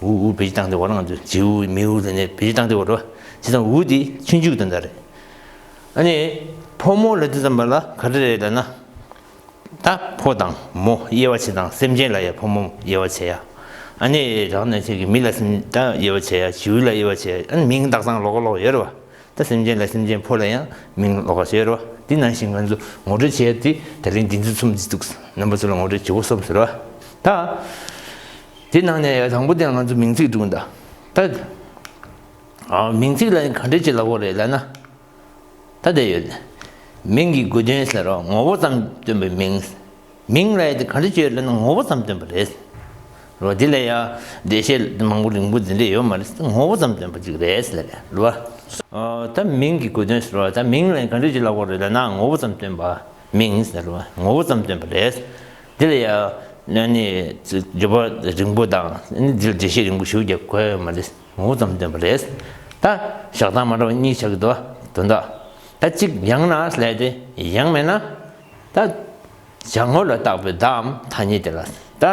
ཝུའུ་ཝུའུ་བེ་ཅི་ཏང་དེ་བ་རང་དུ་ཇེའུ་མེའུ་དེ་ནས་བེ་ཅི་ཏང་དེ་བ་རོ་ཅི་ཏང་ཝུའུ་དེ་ཁྱི་མཇུག་དེ་འདྲ་རེད། ཨ་ནི་ཕོ་མོ་ལ་དེ་ཙམ་པ་ལ་ག་རེ་རེད་ལ་ན། ད་ཕོ་དང་མོ་དབྱེ་བ་བྱེད་དང་སེམས་ཅན་ལ་ཡང་ཕོ་མོ་དབྱེ་བ་བྱེད་ཡ། ཨ་ནི་རང་ནས་ཁྱེད་ཀྱི་མི་ལ་སེམས་ད་དབྱེ་བ་བྱེད་ཡ་བྱིའུ་ལ་དབྱེ་བ་བྱེད་ཡ་ཨ་ནི་མིང་དག་ཚང་ལོག་ག་ལོག་ཡོད་རེད་བ། ད་སེམས་ཅན་ལ་སེམས་ཅན་ཕོ་ལ་ཡང་མིང་ལོག་ག་བྱེད་རེད་བ་དེ་ནང་བཞིན་ང་ཚོ་ངོ་སྤྲོད་བྱེད་ཡ་དེ་ད་རིང་འདི་ཚོ་ཚོམ་བྱེད་འདུག་རྣམ་པ་ཚོ་ལ་ངོ་སྤྲོད་བྱེད་དགོས་སོམས་ཟེར་བ། ད། དེའི་ནང་ནས་དང་པོ་དེ་ང་ཚོ་མིང་ཚིག་སྒྲུང་གདའ། ད་མིང་ཚིག་ལ་ག་འདྲས་ཅི་ལ་བོ་རེད་ལབ་ན། ད་བསྡད་ཡོད་དེ། མིང་གི་དགོས་དོན་ཟེར་རོགས་ངོ་བོ་ཙམ་སྟོན་པའི་མིང། མིང་ལ་ག་འདྲས་ཅི་ཡོད་ལབ་ན་ངོ་བོ་ཙམ་སྟོན་པ་རེད། རོ་དེ་ལ་ཡང་བདེ་བཤད་མང་པོ་རིང་པོ་འདི་འདྲས་ཡོད་མ་རེད་ངོ་བོ་ཙམ་སྟོན་པ་ཅིག་རེད་ཟེར་ལབ་ལ། ད་མིང་གི་དགོས་དོན་ཟེར་རོགས་ད་མིང་ལ་ག་འདྲས་ཅི་ལ་བོ་རེད་ལབ་ན་ངོ་བོ་ཙམ་སྟོན་པ། མིང་ཟེར་བ་ངོ་བོ་ཙམ་སྟོན་པ་རེད། དེ་ལ་ཡང་ནི་བརྗོད་པ་རིང་པོ་དང་ནི་འདྲི་གཞི་རིང་པོ་ཞུ་རྒྱུ་དགོས་ཡོད་མ་རེད། ངོ་བོ་ཙམ་སྟོན་པ་རེད། ད་ཞག་ཐང་མ་འདྲ་བ་གཉིས་ཆགས་ཀྱི་འདུག་བ་དོན་དག་ད་གཅིག་ཡང་ན་ལས་ཏེ་ཡང་མེད་ན། ད་བྱ་ངོ་ལ་བཏགས་པའི་བརྡའམ་ཐ་སྙད་དེ་ལ་ད།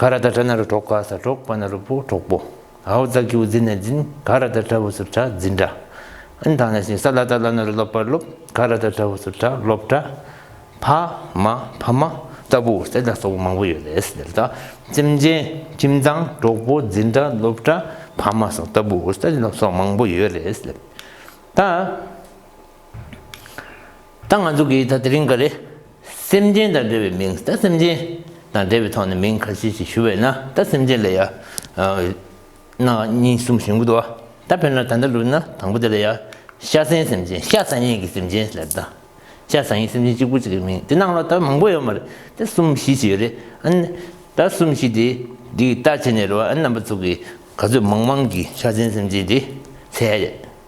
ག་ར་ད་གྲ་ན་རུ་གྲོགས་ག་ས་གྲོགས་པ་ན་རུ་པོ་གྲོགས་པོ། ཨ་བོ་ཙག་ཀྱུ་རྫི་ན་རྫིན་ག་ར་ད་གྲ་བོ་སུ་གྲ་རྫི་འདྲ། ཨིན་ཐང་ན་ཤིང་ས་ལ་ད་ལ་ན་རུ་ལོབ་པར་ལོབ་ག་ར་ད་གྲ་བོ་སུ་གྲ་ལོབ་འདྲ། ཕ་མ་ཕ་མ་ལྟ་བུ་སེ་ལ་སོགས་པ་མང་པོ་ཡོད་རེད་ཟེར་ད། ཁྱིམ་ཆེན་ཁྱིམ་ཚང་གྲོགས་པོ་རྫི་འདྲ་ལོབ་འདྲ་ཕ་མ་སོགས་ལྟ་བུ་སེ་ལ་སོགས་མང་པོ་ཡོད་རེད་ཟེར་ད། ད་ང་ཚོ་གིས་ད་དེ་རིང་ག་རེ། སེམས་ཅན་དང་འབྲེལ་བའི་མིང་ད་སེམས་ཅན་དང་འབྲེལ་བའི་ཐོག་ནས་མིང་ག་ཚིག་ཅིག་ཞུ་བས་ན་ད་སེམས་ཅན་ལ་ཡང། གནའ་སྙིང་གསུམ་ཞིག་འདུག་ཨ། ད་ཕེར་ན་ད་ལྟ་ལུགས་ན་དང་པོ་དེ་ལ་ཡང། ཤ་ཟན་སེམས་ཅན་ཤ་ཟ་ཡིན་གྱི་སེམས་ཅན་ཟེར་དང། ཤ་ཟ་ཡིན་སེམས་ཅན་གཅིག་པུ་ཅིག་གི་མིང་དེ་ནང་ལོགས་ད་མང་པོ་ཡོད་མ་རེད་ད་གསུམ་བཞི་ཅིག་ཡོད་རེད་ཨ། ད་གསུམ་བཞི་དེ་འདི་ལྟར་བྱས་ནས་རེ་བ་ཨ་རྣམ་པ་ཚོ་གིས་ག་ཚོད་མང་མང་གིས་ཤ་ཟན་སེམས་ཅན་དེ་ཚད།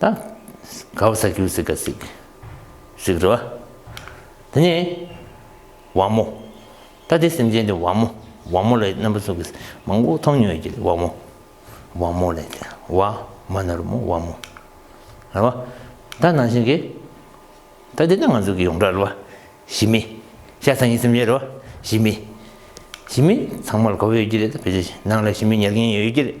ད་གའ་བ་ས་ཁྱིའུ་སི་ག་སིག། ཞིག་རེད་བ། དེ་ནས། བ་མོ། ད་དེ་སེམས་ཅན་དེ་བ་མོ། བ་མོ་ལ་རྣམ་པ་ཚོགས་ཀྱི་སེམས་མང་པོ་མཐོང་མྱོང་ཡོད་ཀྱི་རེད་བ་མོ། བ་མོ་ལས་དེ་བ་མ་ན་རུ་མོ་བ་མོ། རེད་བ། ད་ནང་བཞིན་གྱི། ད་དེ་ནི་ང་ཚོ་གི་ཡོངས་གྲགས་རེད་བ། ཞི་མི། ཤ་ཚ་ཡིན་སེམས་ཅན་རེད་བ། ཞི་མི། ཞི་མི་ཚང་མ་ལ་གོ་བ་ཡོད་ཀྱི་རེད་ད་བེ་ཅི་ནང་ལ་ཞི་མི་ཉར་མཁན་ཡོད་ཀྱི་རེད།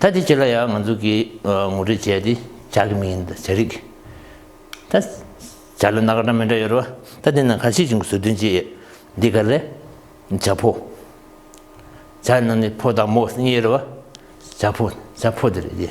ད་དེ་ཕྱི་ལ་ཡང་ང་ཚོ་གིས་ངོ་སྤྲོད་བྱས་ཏེ་བྱ་གི་མིན་ད་བྱ་རིགས་ད་བྱ་ལ་ན་ག་འདྲ་མི་འདྲ་ཡོད་རེད་བ་ད་དེ་ནང་ག་ཤེད་ཅིག་བཟོ་དོན་ཅི་ཡོད་འདི་ག་ལས་བྱ་ཕོ་བྱ་ནང་ནས་ཕོ་དང་མོ་གཉིས་རེད་བ་བྱ་ཕོ་བྱ་ཕོ་དེ་རེད་དེ།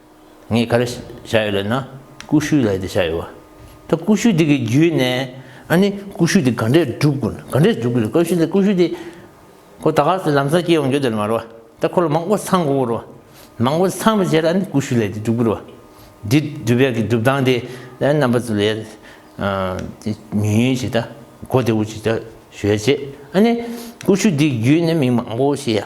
ངས་ག་རེ་བྱ་ཡོད་ལབ་ན་ཀུ་ཤུའི་ལས་དེ་བྱ་ཡོད། ད་ཀུ་ཤུ་དེ་གི་བརྒྱུད་ནས་ཨ་ནི་ཀུ་ཤུ་དེ་ག་འདྲས་སྒྲུབ་དགོས་ན་ག་འདྲས་སྒྲུབ་དགོས་རེད་ཀུ་ཤུ་དེ་ཀུ་ཤུ་དེ་ཁོ་ད་ག་ཚོད་ལམ་སང་སྐྱེ་ཡོང་རྒྱུ་དེ་མ་རོ་ད་ཁོ་ལ་མང་པོ་ཚང་དགོས་རོ་མང་པོ་ཚང་བའི་རྗེས་ལ་ཨ་ནི་ཀུ་ཤུ་ལས་དེ་སྒྲུབ་དགོས་རོ་འདི་སྒྲུབ་པའི་གི་སྒྲུབ་སྟངས་དེ་ཨ་རྣམ་པ་ཚོ་ལས་དེ་ཉུང་ཉུང་བྱེད་ད་གོ་དེ་འུ་ཅིག་ད་ཞོད་ཅེས་ཨ་ནི་ཀུ་ཤུ་དེ་གི་བརྒྱུད་ནས་མི་མང་པོ་ཞིག་ཡ།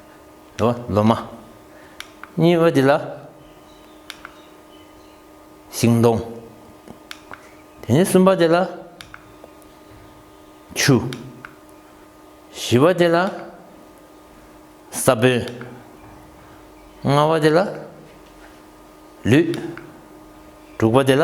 འགྲོ་བ་སློབ་མ། གཉིས་པ་དེ་ལ། ཤིང་སྡོང། དེ་ནས་གསུམ་པ་དེ་ལ། ཆུ། བཞི་བ་དེ་ལ། ས་བོན། ལྔ་བ་དེ་ལ། ལུས། དྲུག་པ་དེ་ལ།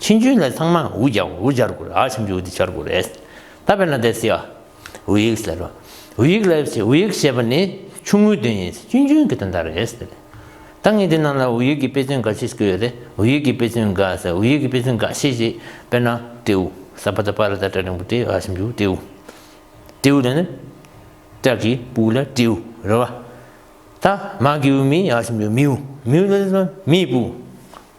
ཕྱིན་ཅུན་ལས་ཚང་མ་འུ་སྦྱར་འུ་སྦྱར་དགོས་རེད་ཕྱིན་ཅུན་འུ་དེ་སྦྱར་དགོས་རེད་ད་བས་ན་དེ་སེ་ཨ་འུ་ཡིག་ཟེར་རོ་འུ་ཡིག་ལ་འུ་ཡིག་ཞེས་པ་ནི་ཆུང་ངུའི་དོན་ཡིན་ཕྱིན་ཅུན་གྱི་དོན་དག་རེད་ད་ངས་འདི་ནང་ལ་འུ་ཡིག་གི་དཔེ་མཚོན་འགའ་ཤས་བཀོད་ཡོད་རེད་འུ་ཡིག་གི་དཔེ་མཚོན་འགའ་ཟེར་འུ་ཡིག་གི་དཔེ་མཚོན་འགའ་ཤས་ཞེས་དཔེར་ན་ཏེའུ་ཟ་བ་ད་པ་ར་ད་ཏྲ་རིང་པོ་ཏེ་ཨ་ཕྱིན་ཅུན་ཏེའུ་ཏེའུ་དེ་ནི་ཏྲ་གི་པུའུ་ལ་ཏེའུ་རེད་བ་ད་མ་གི་འུ་མི་ཨ་ཕྱིན་ཅུན་མིའུ་མིའུ་ལ་ཏྲ་མིའི་པུའུ།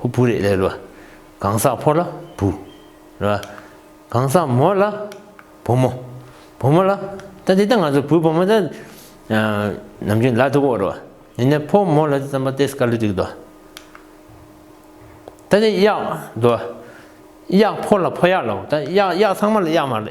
ཧུ་བུ་རེ་ལེ་ལོ། གང་ཟག་ཕོ་ལ་བུ། རེ་བ། གང་ཟག་མོ་ལ་བུ་མོ། བུ་མོ་ལ། ད་འདི་ལྟ་ང་ཚོ་བུ་བུ་མོ་ད། ནམ་རྒྱུན་ལ་འདུག་གོ་རེ་བ། ནི་ནི་ཕོ་མོ་ལ་འདི་ཙམ་པ་ཏེ་སྐར་ལུ་ཏིག་ཏོ། ད་འདི་གཡག། དོ། གཡག་ཕོ་ལ་ཕོ་གཡག་ལའོ་ད་གཡག་གཡག་ཚང་མ་ལ་གཡག་མ་རེད།